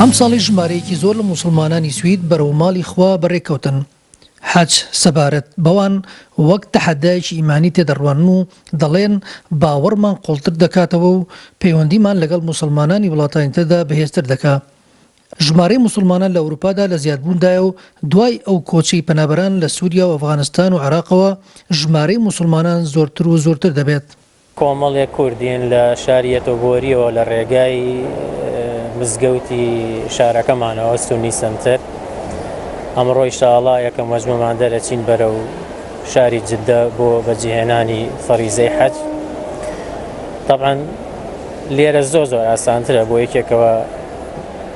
ئەمساڵیش ژمارەیەکی زۆر لە موسڵمانانی سوید بەرەو ماڵی خوا بەڕێکەوتن، حەج، سەبارەت بەوان وەک تەحەدایەکی ئیمانی تێدەڕوانن و دەڵێن، باوەڕمان قوڵتر دەکاتەوە و پەیوەندیمان لەگەڵ موسڵمانانی وڵاتانی تردا بەهێزتر دەکا. ژمارەی موسڵمانان لە ئەوروپادا لە زیادبووندایە و دوای ئەو کۆچەی پەنابەران لە سوریا و ئەفغانستان و عێراقەوە ژمارەی موسڵمانان زۆرتر و زۆرتر دەبێت. کۆمەڵێک کوردین لە شاری یەتۆبۆرییەوە لە ڕێگای مزگەوتی شارەکەمانەوە سونی سەنتەر ئەمڕۆ ئیشاڵا یەکەم وەجمەمان دەرەچین بەرە و شاری جددە بۆ بەجیهێنانی فەریزەی حەج طبعا لێرە زۆ زۆر ئاسانترە بۆ یەکێکەوە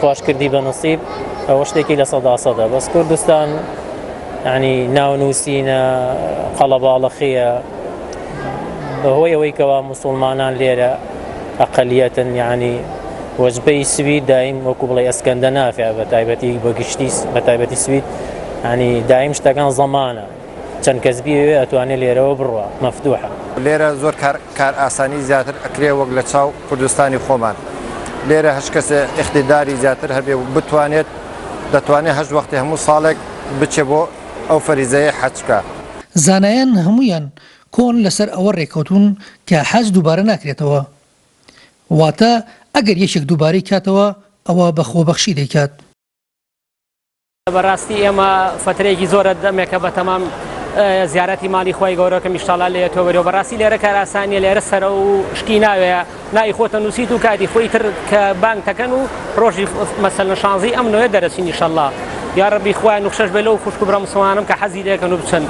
خواش کردی بە نسیب ئەوە شتێکی لە سەدا سەدە بەس کوردستان ینی ناونووسینە قەڵەباڵەخەیە بەهۆی ئەوەی کەوا مسلمانان لێرە ئەقلیەتن یعنی وەجبەی سوید دایم وەکو بڵێ ئەسکەندە نافێ بە تایبەتی بەگشتی بە تایبەتی سوید ینی دایم شتەکان زەمانە چەند کەس بیەوێ ئەتوانێ لێرەوە بڕوا مەفتوحە. لێرە زۆر کار کار ئاسانی زیاتر ئەکرێ وەک لە چاو کوردستانی خۆمان لێرە هەشت کەسێ ئیقتیداری زیاتر هەبێ و بتوانێت دەتوانێ هەشت وەختی هەموو ساڵێک بچێ بۆ ئەو فەریزەیەی حەج بکا. زانایان هەموویان کۆن لەسەر ئەوە رێکەوتوون کە حەج دووبارە ناکرێتەوە واتە ئەگەر یەکێک دووبارەی کاتەوە ئەوا بە خۆبەخشی دەیکات. بەڕاستی ئێمە فترەیەکی زۆرە دەمێکە بە تەمام زیارەتی ماڵی خۆی گەورەکە میشتاڵا لێ تۆبەرەوە بەڕاستی لێرە کاراسانیە لێرە سەرە و شتی ناوێ نای خۆتە نووسیت و کاتی خۆی تر کە بانگ تەکەن و ڕۆژی مەسەل شانزی ئەم نوێ دەرەچی نیشەله یا ڕبی خۆیان نوخشەش بێ لەو خوشک برا مسلمانم کە حەزی لەکەن و بچن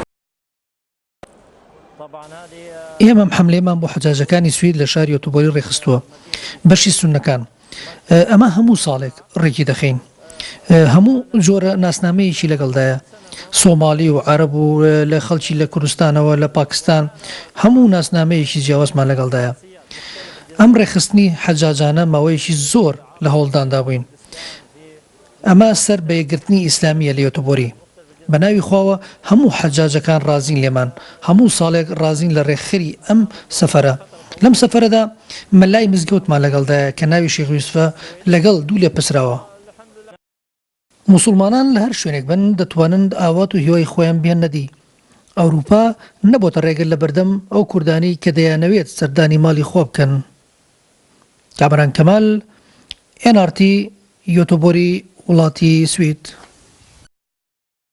ئێمە محەملێمان بۆ حەجاجەکانی سوید لە شاری ئۆتۆبۆلی ڕێکخستووە بەشی سونەکان ئەمە هەموو ساڵێک ڕێکی دەخەین هەموو جۆرە ناسنامەیەکی لەگەڵدایە سۆمالی و عرب و لە خەڵکی لە کوردستانەوە لە پاکستان هەموو ناسنامەیەکی جیاوازمان لەگەڵدایە ئەم ڕێخستنی حەجاجانە ماوەیەکی زۆر لە هەوڵداندا بووین ئەمە سەر بە یەکگرتنی ئیسلامیە لە یۆتۆبۆری بە ناوی خواوە هەموو حەجاجەکان ڕازین لێمان هەموو ساڵێک ڕازین لە ڕێکخەری ئەم سەفەرە لەم سەفەرەدا مەلای مزگەوتمان لەگەڵدایە کە ناوی شیخ یوسفە لەگەڵ دوو لێپرسراوە موسوڵمانان لە هەر شوێنێک بن دەتوانن ئاوات و هیوای خۆیان بهێننە دی ئەوروپا نەبۆتە ڕێگر لە بەردەم ئەو کوردانەی کە دەیانەوێت سەردانی ماڵی خوا بکەن کامەران کەمال ئێن ئاڕ تی یۆتۆبۆری وڵاتی سوید.